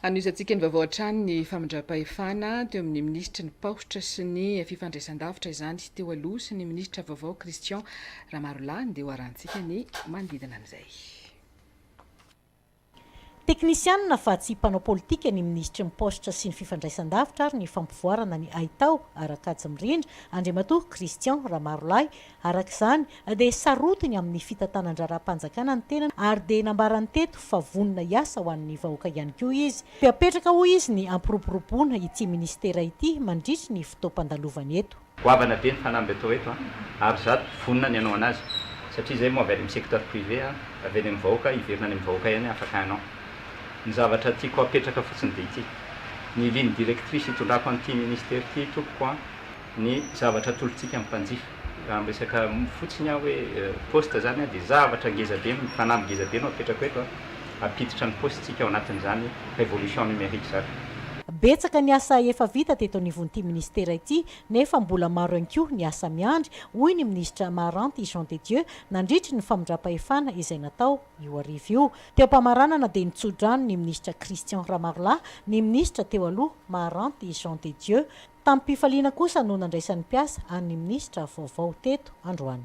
Hanohizantsika ny vaovao hatrany ny famindram-pahefana teo amin'ny minisitry ny Paositra sy ny fifandraisandavitra izany teo aloha sy ny minisitra vaovao Christian Ramarolahy dia hoarahantsika ny manodidina an'izay. Teknisianina fa tsy mpanao politika ny minisitry ny Paositra sy ny fifandraisandavitra ary ny fampivoarana ny haitao, Arakajy Mirindra, Andriamatoa Christian Ramarolahy, Araka izany, dia sarotiny amin'ny fitantanan-draharaham-panjakana ny tenany ary dia nambarany teto fa vonona hiasa ho an'ny vahoaka ihany koa izy. Dia apetraka hoy izy ny hampiroboroboana ity minisitera ity mandritry ny fotoam-pandalovany eto. Goavana be ny fanamby atao eto an! ary za vonona ny hanao anazy satria zay moa avy any amin'ny secteur privé an! avy any amin'ny vahoaka, hiverina any amin'ny vahoaka ihany afaka hanao. Ny zavatra tiako hapetraka fotsiny dia ity, ny ligne directrice hitondrako an'ity minisitera ity tompoko an! ny zavatra atolotsika ny mpanjifa. Raha miresaka fotsiny aho hoe poste zany dia zavatra ngeza be, fanamby ngeza be no apetrako eto an, ampiditra ny poste-tsika ao anatin'izany révolution numérique zany. Betsaka ny asa efa vita teto anivon'ity minisitera ity nefa mbola maro ihany koa ny asa miandry, hoy ny minisitra Maharanty Jean de Dieu nandritry ny famindram-pahefana izay natao io hariva io. Teo am-pamaranana dia nitso-drano ny minisitra Christian Ramarolahy ny minisitra teo aloha Maharanty Jean de Dieu Tamim-pifaliana kosa no nandraisan'ny mpiasa an'ny minisitra vaovao teto androany.